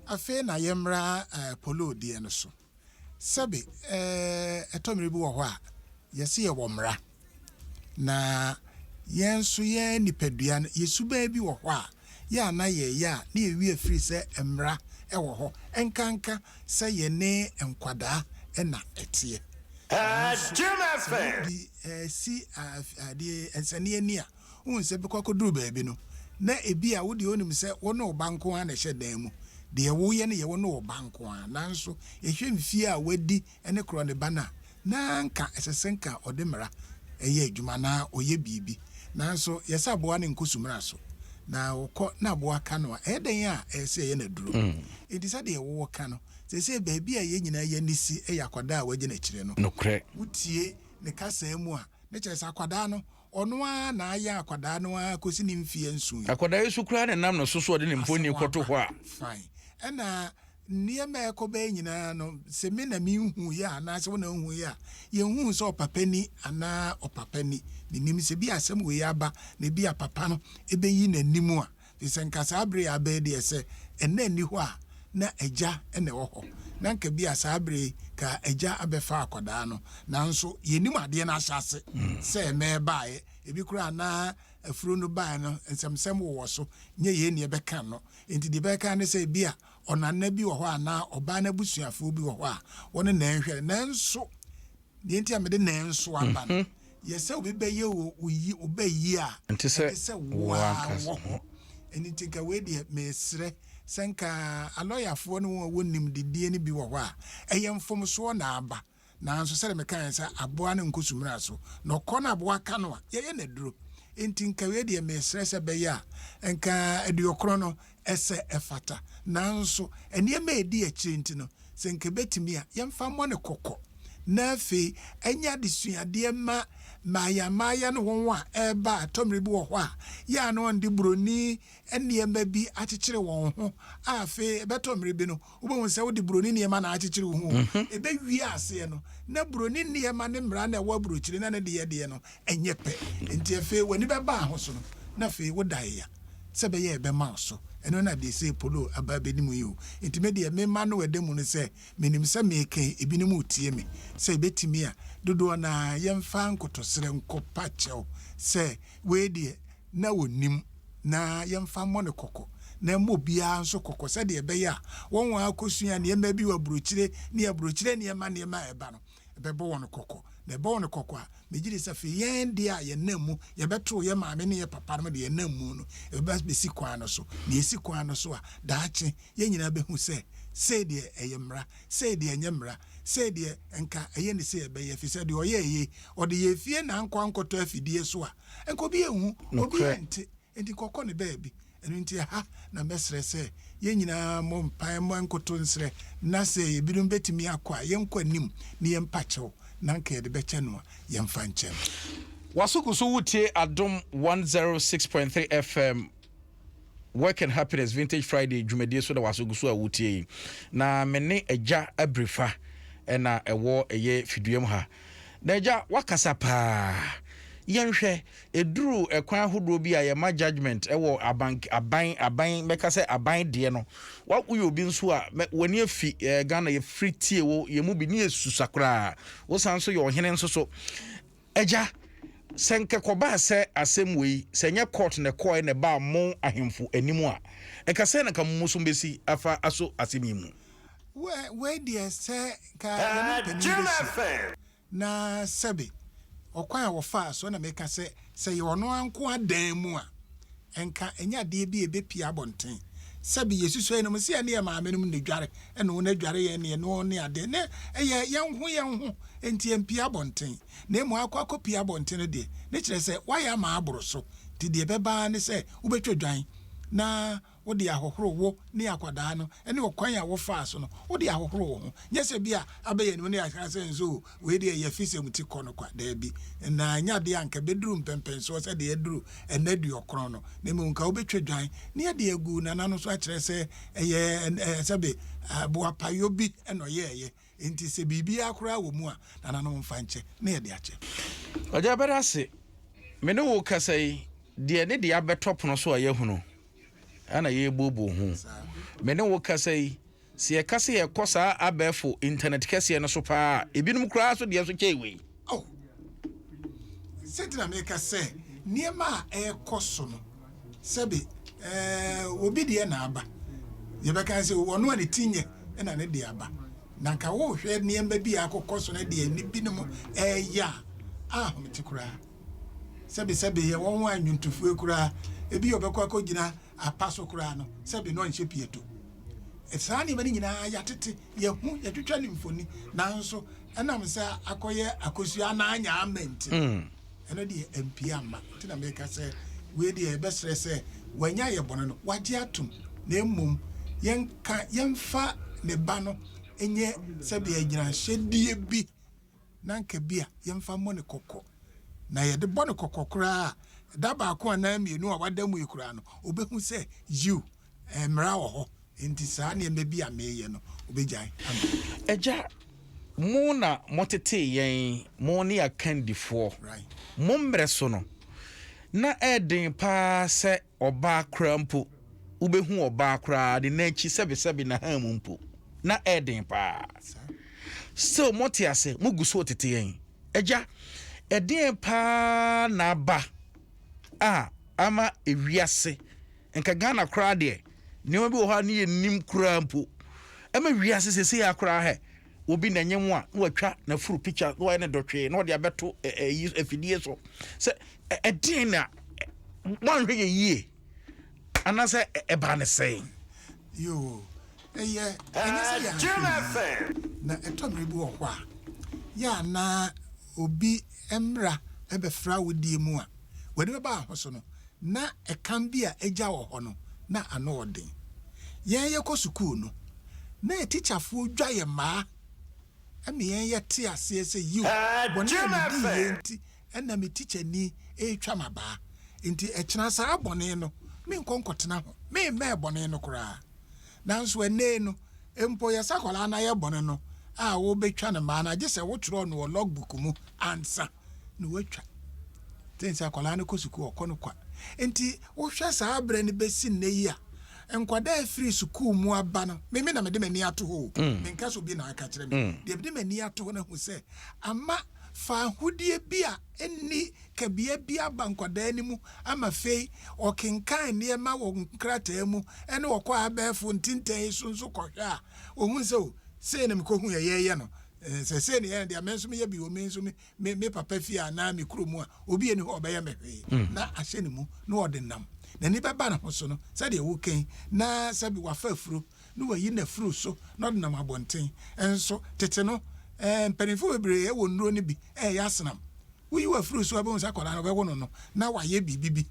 Afei na yɛmmra Paulo deɛ no so. Sɛbe ɛtɔ mmerɛ bi wɔ hɔ a, yɛse yɛwɔ mmara, na yɛn nso yɛn nipadua no, yɛ suban bi wɔ hɔ a, yɛ a na yɛyɛ a na yɛwi afiri sɛ mmara wɔ hɔ, ɛnkanka sɛ yɛne nkwadaa na ɛteɛ. Nanso sɛ yɛde si adeɛ nsɛnneɛ ani a, Wohu sɛ bere kɔkɔ duru baabi no, na ebia wo deɛ wonim sɛ wo ne wo ba nko ara na ɛhyɛ dan mu. Deɛ woyɛ no yɛ wo ne wo ba nko ara. Nanso, yɛhwɛ mfeɛ a wadi ne korɔ ne ba no a, na anka ɛsɛ sɛ anka ɔde mmara yɛ adwuma anaa ɔyɛ biribi. Nanso, yɛ sɛ aboa no nkɔ su mmara so, na ɔkɔ na aboa ka no a, ɛyɛ dɛn a ɛyɛ sɛ ɛyɛ no aduro? Enti sɛdeɛ wowɔ ka no, seesei baabi a yɛn nyinaa yɛn ani si yɛ akwadaa a wɔagyina akyire no. Nokorɛ. Wotie ne kasaa mu a, na kyerɛ sɛ akwadaa no, Ɔno ara na ayɛ akwadaa no ara kɔsi ne mfeɛ nson. Akwadaa yi so koraa na ɛnam ne so so ɔde ne mfonin kɔto hɔ a. Fine. Ɛna nneɛma a ɛkɔ bɛɛ nyinaa no, sɛ me na menhuiɛ a, anaasɛ wo na wohuiɛ a, yɛnhuu sɛ ɔpapa ni anaa ɔpapa ni. Mennim sɛ ebia asɛm wei aba na ebia papa no bɛyi n'anim a, Te sɛ nka saa bere yi aba yi deɛ sɛ ɛna nni hɔ a na agya na ɛwɔ hɔ. Na nka bi a saa bere yi ka agya abɛfa akwadaa no. Nanso yɛnnim adeɛ no ahyɛ ase sɛ ɛna ɛbaeɛ. Ebi koraa na afuro no baeɛ no nsɛmsɛm wowɔ so, nyɛ yei na yɛbɛka no. Enti deɛ yɛbɛka ne sɛ ebi a ɔnana bi wɔ hɔ anaa ɔbaa no abusuafoɔ bi wɔ hɔ a wɔne na ɛnhwɛ no. Nanso Deɛ nti a mede nanso aba no mhm. yɛ sɛ obi bɛyɛ o oyi obɛyi a ɛnte sɛ wo ara wɔ hɔ ɛno nti nka wei deɛ mesrɛ sɛ nka alɔyafoɔ no wɔn a wɔnim didie no bi wɔ hɔ a ɛyɛ mfomsoɔ na aba nanso sɛdeɛ mekaeɛ sɛ aboa no nkɔ sumina so na ɔkɔ no aboa ka no a yɛyɛ no aduro nti nka wei deɛ mesrɛ sɛ bɛyɛ a nka aduokorɔ no Ɛsɛ, ɛfata. Nanso, nneɛma a edi akyiri nti no, sɛ anka ebetumi a, yɛmfa mmɔ no kɔkɔ, na afei ɛnyɛ adesuade mma mmaayammaaya ne wɔn a ɛreba a ɛtɔ mmere bi wɔ hɔ a, yɛ a na wɔde buroni nneɛma bi akyekyere wɔn ho a afei ɛbɛtɔ mmere bi no, wobɛhu sɛ wode buroni nneɛma na akyekyere wo ho o. Mhm. Ɛbɛwie aseɛ no, na buroni nneɛma ne mmara na ɛwɔ aburokyire na ne deɛ deɛ no ɛnyɛ pɛ. Nti afei w'ani bɛbaa ho so no, na afei woda ya sɛ ɛbɛyɛ a ɛbɛma wo so. Ɛno na deɛ sei Polo aba abɛnim yi o. Nti me deɛ mema no ɛda mu no sɛ, menim sɛ meka yi, ebinom retie me. Sɛ ɛbɛtumi a, dodoɔ no ara yɛmfa nkotosrɛ nkɔpa kyɛw sɛ wei deɛ, na ɔnim, na yɛmfa mmɔ no kɔkɔ, na ɛmmɔ obiara nso kɔkɔ, sɛdeɛ ɛbɛyɛ a wɔn a wɔakɔsua nneɛma bi wɔ aburokyire ne aburokyire nneɛma nneɛma a ɛreba no, ɛbɛbɔ wɔn kɔkɔ. Na ɛbɔ wɔn kɔkɔ a, megye di sɛ afei yɛn deɛ a yɛnam mu, yɛbɛtoo yɛn maame ne yɛn papa nom deɛ yɛnam mu no, yɛbɛba abɛsi kwan no so. Na yɛsi kwan no so a, daakye yɛn nyinaa bɛhu sɛ, sei deɛ ɛyɛ mmara, sei deɛ ɛnyɛ mmara, sei deɛ nka ɛyɛ ne sei ɛbɛyɛ, ɛfiri sɛ deɛ ɔyɛeɛ yi, ɔde yɛn fie na ankɔ ankɔtɔ afidie so a, Nka obi anhu, obi ante, enti kɔkɔ no baabi. Ɛno nti ɛha na mɛsrɛ sɛ yɛn nyinaa mmɔ mpae mmɔ nkoto nsrɛ na sɛ ebinom betumi akɔ a, yɛnkɔ anim ne yɛmpa kyɛw na anka yɛde bɛkyɛ no a, yɛmfa nkyɛ no. W'aso gu so wotie adom one zero six point three FM Work and Happiness Vintage Friday dwumadie so na waso gu so a wotie yi. Na me ne Agya Abirifa ɛna ɛwɔ ɛyɛ fiduam ha. Na Agya, wakasa paa. Yɛnhwɛ, ɛduru ɛkwan ahodoɔ bi a yɛma judgment ɛwɔ aban, aban, aban, mɛka sɛ aban deɛ no. Wa, woyɛ obi nso a, mɛ, w'ani afi eh, Ghana, yɛfiri tie wo, yɛn mu bi, ne yɛsusa koraa. Wosan nso yɛ ɔhene nso so. Agya, sɛ nka ɛkɔbaa sɛ asɛm wei, sɛ ɛnyɛ kɔɔt na ɛkɔɔɛ na ɛbaa mo ahemfo anim a, nka sɛn na nka mo mmusu bɛsi afa aso asɛm yi mu? Well, wei deɛ sɛ nka yɛne mpanin bɛhyia na sɛbe ɔkwan a wɔfaa so na meka sɛ, sɛ ɛyɛ ɔno ara nko ara dan mu a, Anka ɛnyɛ adeɛ bi a ɛbɛpue abɔnten sɛ bi yɛsusua yeinom sɛ yɛne yɛn maamenom na ɛdware, ɛna wɔn adware yɛn ne yɛne wɔn ne adeɛ. Na ɛyɛ yɛn ho yɛn ho nti ɛmpue abɔnten. Na mmom akɔ akɔpue abɔnten no deɛ, ne kyerɛ sɛ woayɛ ama aboro so. Nti deɛ ɛbɛba ara ne sɛ wobɛtwa dwan na wode ahohoro wo ne akwadaa no ne ɔkwan a wofaa so no wode ahohoro wo ho. Nyɛ sɛ bi a abɛyɛ no ne yɛaka sɛ nso o Wei deɛ ɛyɛ fisɛm ti kɔ no kwa? Daabi. Nnaa nyɛ adeɛ a nka ɛbɛduru mpɛnpɛnsoɔ sɛ deɛ aduru ɛnnɛ aduɔkron no, na mmom nka wobɛtwa dwan ne ɛde agu Nana no so akyerɛ sɛ ɛyɛ ɛɛ sɛbe boapayɔ bi na ɔyɛeɛ. Enti sɛ biribiara koraa wɔ mu a, Nana no mfa nkyɛ na yɛde akyɛ. Ɔgya bɛda ase. Me ne wo rekasa yi, deɛ ne deɛ abɛtɔ pono so a yɛahunu na yɛrebuobuo ho. Me ne wo rekasa yi. Sɛ yɛka sɛ yɛkɔ saa abɛɛfo intanɛt kɛseɛ no so paa a, ebinom koraa so deɛ nso kyɛn wei. Oh, sɛnti na meka sɛ nneɛma a ɛrekɔ so no, sɛbe ɛɛ obi deɛ na aba, yɛbɛka sɛ ɔno a ne ti nyɛ ɛna ne deɛ aba. Na nka wohwɛ nneɛma bi a akokɔ so no deɛ ne binom ɛreyɛ a, ahomete koraa. Sɛbe sɛbe yɛwɔ ho a nnwontofoɔ koraa, ebi ɔbɛkɔ akɔgyina Apa so koraa no, sɛbe na ɔnhyɛ pieto. Saa nneɛma no nyinaa yɛatete, yɛahu, yɛatwitwa ne mfoni, nanso ɛnam sɛ akɔyɛ akosua anaa anya ama nti no, mm. ɛno deɛ ampie amma. Nti na meka sɛ wei deɛ yɛbɛsrɛ sɛ wanya yɛ bɔne no wagye atom, na mmom yɛnka yɛmfa ne ba no nyɛ sɛdeɛ agyinahyɛdeɛ bi na anka ebia yɛmfa mmɔ no kɔkɔ, na yɛde bɔ no kɔkɔ koraa a, da baako anaa mmienu a wada mu yi koraa no, obehu sɛ, yiw, mmara wɔ hɔ, enti saa nneɛma bi a mereyɛ no, obegyae ama me. Agya, mo na motetee yɛn, mo ne akandifoɔ. Mo mmere so no, na ɛyɛ den paa sɛ Ɔbaa koraa mpo, wobɛhu ɔbaa koraa ne nan akyi sɛbesɛbe n'ahan mu mpo, na ɛyɛ den paa. Still mote ase, mogu so retete yɛn. Agya, ɛdeɛn paa na aba a ama ewiase, nka Ghana koraa deɛ, nneɛma bi wɔ hɔ a ne yɛnnim koraa mpo. Ɛma wiase seesei ara koraa hɛ, obi na ɛnyɛ ho a na watwa n'afuru picture na wayɛ no dɔtwee na ɔde abɛto ɛyi afidie so sɛ ɛdeɛn na wɔanhwɛ yɛ yie anaasɛ ɛbaa ne sɛn. yoo ɛyɛ ɛnyɛ sɛ yɛanhwɛ yie na ɛtɔ mmere bi wɔ hɔ a yɛ a na obi mmra bɛfra wo deɛ mu a, w'ani bɛba ho so no, na ɛkam bi a agya wɔ hɔ no, na ano wɔ den. Yɛn yɛkɔ sukuu no, na atikyafoɔ dwa yɛ mmaa ma yɛn yɛte aseɛ sɛ yiw, bɔne a mediiɛ nti na me tikyani retwa m'abaa, nti ɛkyena saa bɔne no menkɔ nkɔtena ho, memmɛɛ bɔne no koraa. Nanso ɛnnɛ yi no, Mpo yɛ sɛ akwadaa no ayɛ bɔne no a wobɛtwa no maa no agye sɛ wotwerɛɔ no wɔ log book mu ansa na woatwa. Te sɛ akwadaa no kɔ sukuu ɔkɔ no kwa. Nti wohwɛ saa berɛ no bɛsi nnɛ yi a, nkwadaa ɛfiri sukuu mu aba no, meme na mede m'ani ato hɔ o, mm. menka sɛ obi na aka kyerɛ me, mm. deɛ mede m'ani ato hɔ no ahu sɛ ama faahodie bi a nni kabea bi aba nkwadaa no mu ama fei ɔkenkan nneɛma wɔ nkrataa mu ne ɔkɔ abɛɛfo ntintɛn yi so nso kɔhwɛ a, ɔhu sɛ o, sei na mekɔhu yɛ yɛyɛ no, sɛ sei na yɛyɛ no deɛ me nso meyɛ bi wɔ me nso me, me papa fie anaa me kuro mu a, obi ani hɔ ɔbɛyɛ me hwee. Na ahyɛ ne mu na ɔde nam. N'ani bɛba ne ho so no sɛdeɛ wokan na sɛbi wafa afuro. na wayi no afiri so na ɔde nam abɔnten. Nso, tete no, mpanimfoɔ bebree wɔ nnuro no bi reyɛ asenam. Woyi wo afiri so a, wobɛhu sɛ akwadaa no wɔbɛwo no no, na wayɛ biribi bi.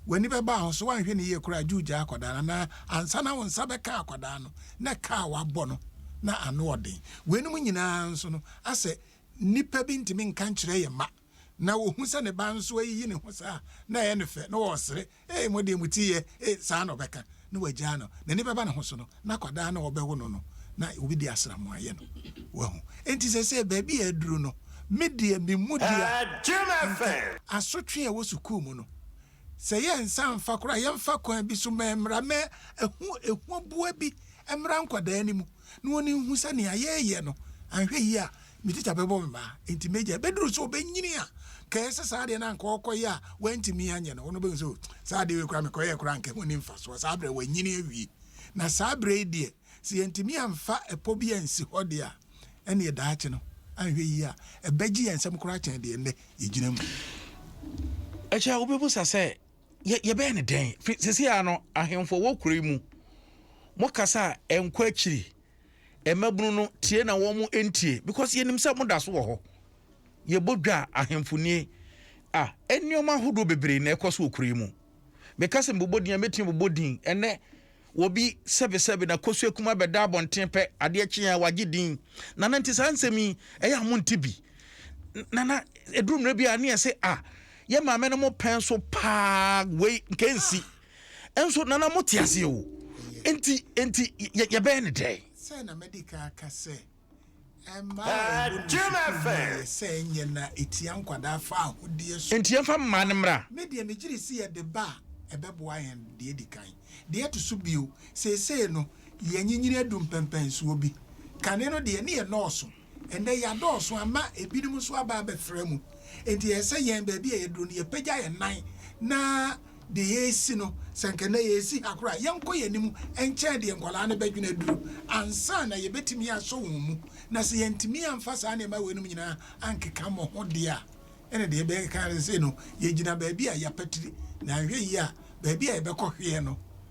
W'ani bɛba a, nso woanhwɛ no yie koraa a, gye wogyaa akwadaa no. Anaa ansa na wo nsa bɛka akwadaa no, na ka a wabɔ no, na ano ɔden. Weinom nyinaa nso no, asɛ nnipa bi ntumi nka nkyerɛ yɛn mma. na ɔhu sɛ ne ba nso ayiyi ne ho saa a, na ɛyɛ no fɛ, na ɔresere, Ee, mo deɛ moti yɛ, ee, saa na ɔbɛka, na wagyaa no. N'ani bɛba ne ho so no, n'akwadaa no a ɔbɛwo no no, na obi de asram ayɛ no. Wahu? Enti seesei, baabi a aduru no, me deɛ, me mu dua, nka asotwe a ɛwɔ sukuu mu no, Sɛ yɛnsa mfa koraa a, yɛmfa kwan bi so ma mmara ma ɛho ahuboa bi mmra nkwadaa no mu, na wɔn nhu sɛ nea yɛreyɛ no, anhwɛ yie a, me tikya bɛbɔ me mmaa. Enti m'agya, ɛbɛduru sɛ ɔbɛnyini a, ka ɛsɛ saa adeɛ no a anka ɔrekɔyɛ a wantumi anyɛ no, ɔno bɛhu sɛ, oh, saa adeɛ wei koraa mekɔyɛɛ koraa anka ɛho nni mfasoɔ. Saa berɛ wanyini awie. Na saa berɛ yi deɛ, sɛ yɛantumi amfa ɛpɔ bi ansi hɔ de a, ɛnneɛ daakye no, anhwɛ yie a, ɛbɛgye yɛn nsam koraa kyɛn deɛ nnɛ yɛgyina mu. Ɛkyɛ wobɛbisa sɛ, Yɛ, yɛbɛyɛ no dɛn? Firi seesei ara no, ahemfo a wɔwɔ kuro yi mu, mokasa a, ɛnkɔ akyiri. Mmabunu no, tie na wɔntie, because yɛnim sɛ moda so wɔ hɔ. Yɛbɔ dwa a, ahemfo nie. A, nneɛma ahodoɔ bebree na ɛkɔ so wɔ kuro yi mu. Meka sɛ mebobɔ din a, mɛtumi abobɔ din ɛnnɛ. Wɔ bi sɛbesɛbe na kosua kumaa bɛda abɔnten pɛ, adeɛ kye a wagye din. Nana nti saa nsɛm yi ɛyɛ a monte bi? Nana ɛduru mmerɛ bi a ne yɛse a yɛ maame no mo pɛn so paa wei nka ɛnsi. Nso Nana mote aseɛ o, ɛnti ɛnti yɛbɛyɛ no dɛn? Sɛɛ na mɛdi kan aka sɛ. Mmaa a ɛwɔ ne sukuu no ayɛ sɛ ɛnyɛ na ɛtia nkwadaa faahodie so. Enti yɛmfa mmaa no mmra. Me deɛ megyere se yɛde ba a ɛbɛboa yɛn deɛ edi kan. Deɛ ɛto so bio, seesei no yɛanyinyini adu mpɛnpɛnsoɔ bi. Kane no deɛ ne yɛnnɔɔso. Ɛnnɛ yɛadɔɔso ama ebinom nso aba abɛfra mu. Enti ɛyɛ sɛ yɛn baabi a yɛduru no yɛpagya yɛn nan na deɛ yɛresi no, sɛ anka nnɛ yɛresi ha koraa a, yɛnkɔ yɛn anim nkyɛn deɛ nkwadaa no bɛdwene aduru ansa na yɛbɛtumi asɔ wɔn mu. Na sɛ yɛantumi amfa saa nneɛma weinom nyinaa ankeka mo ho deɛ a, ɛnna deɛ yɛbɛka ara ne sɛ, sei no, yɛgyina baabi a yɛapatiri, na anhwɛ yie a, baabi a yɛbɛkɔhweɛ no,